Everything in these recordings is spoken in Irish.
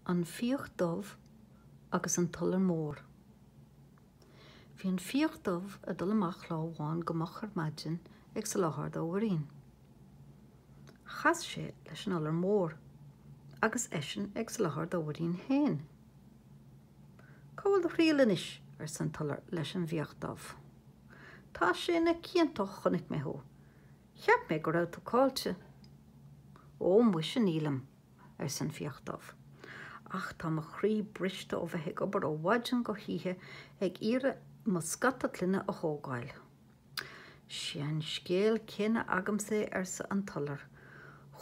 An Fiach Dubh agus an tIolar Mór Bhí an fiach dubh ag dul amach lá amháin go moch ar maidin ag soláthar dá mhuirín. Chas sé leis an Iolar Mór agus eisean ag soláthar dá mhuirín féin. Cá bhfuil do thriall anois? arsa an t-iolar leis an bhfiach dubh. Tá sé na cianta ó chonaic mé thú! Cheap mé go raibh tú caillte. Ó, muise, nílim, arsa an fiach dubh, ach tá mo chroí briste ó bheith ag obair ó mhaidin go hoíche ag iarraidh mo scata clainne a thógáil. Sé an scéal céanna agamsa é, arsa an t-iolar.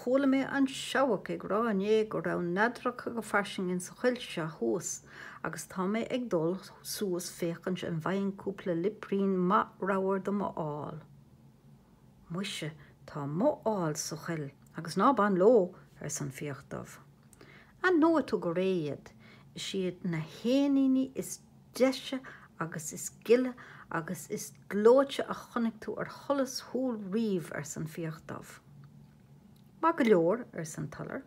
Chuala mé an seabhac ag rá inné go raibh neadracha go fairsing insa choill seo thuas agus tá mé ag dul suas féachaint an bhfaighinn cúpla liprín maith ramhar do mo ál. Mhuise, tá mo ál sa choill agus ná bain leo, arsa an fiach dubh. Aithneoidh tú go réidh iad. Is iad na héiníní is deise agus is gile agus is gleoite a chonaic tú ar sholas shúl riamh, arsa an fiach dubh. Maith go leor, arsa an t-iolar,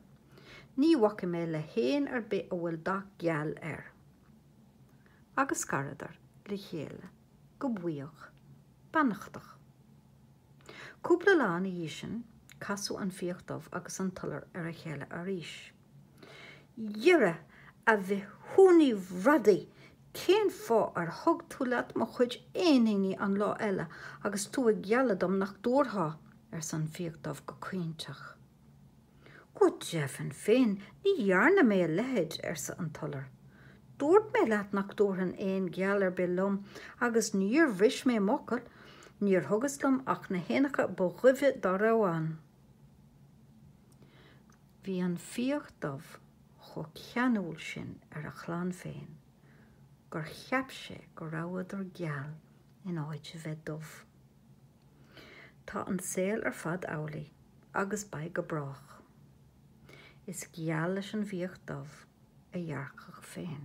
ní bhacfaidh mé le héan ar bith a bhfuil dath geal air. Agus scaradar le chéile go buíoch. beannachtach. Cúpla lá ina dhiaidh sin, casadh an fiach dubh agus an t-iolar ar a chéile arís. Dhera, a bhithiúnaí bhradaigh, cén fáth ar thug tú leat mo chuid éiníní an lá eile agus tú ag gealladh dom nach dtabharfá? arsa an fiach dubh go caointeach. Go deimhin féin, ní dhearna mé a leithéid, arsa an tIolar. Dúirt mé leat nach dtabharfainn éan geal ar bith liom, agus níor bhris mé m'fhocal, níor thugas liom ach na héanacha ba dhuibhe dá raibh ann. Bhí an fiach dubh chomh ceanúil sin ar a chlann féin gur cheap sé go rabhadar geal in áit a bheith dubh. Tá an saol ar fad amhlaidh agus beidh go brách. Is geal leis an bhfiach dubh a ghearrcach féin.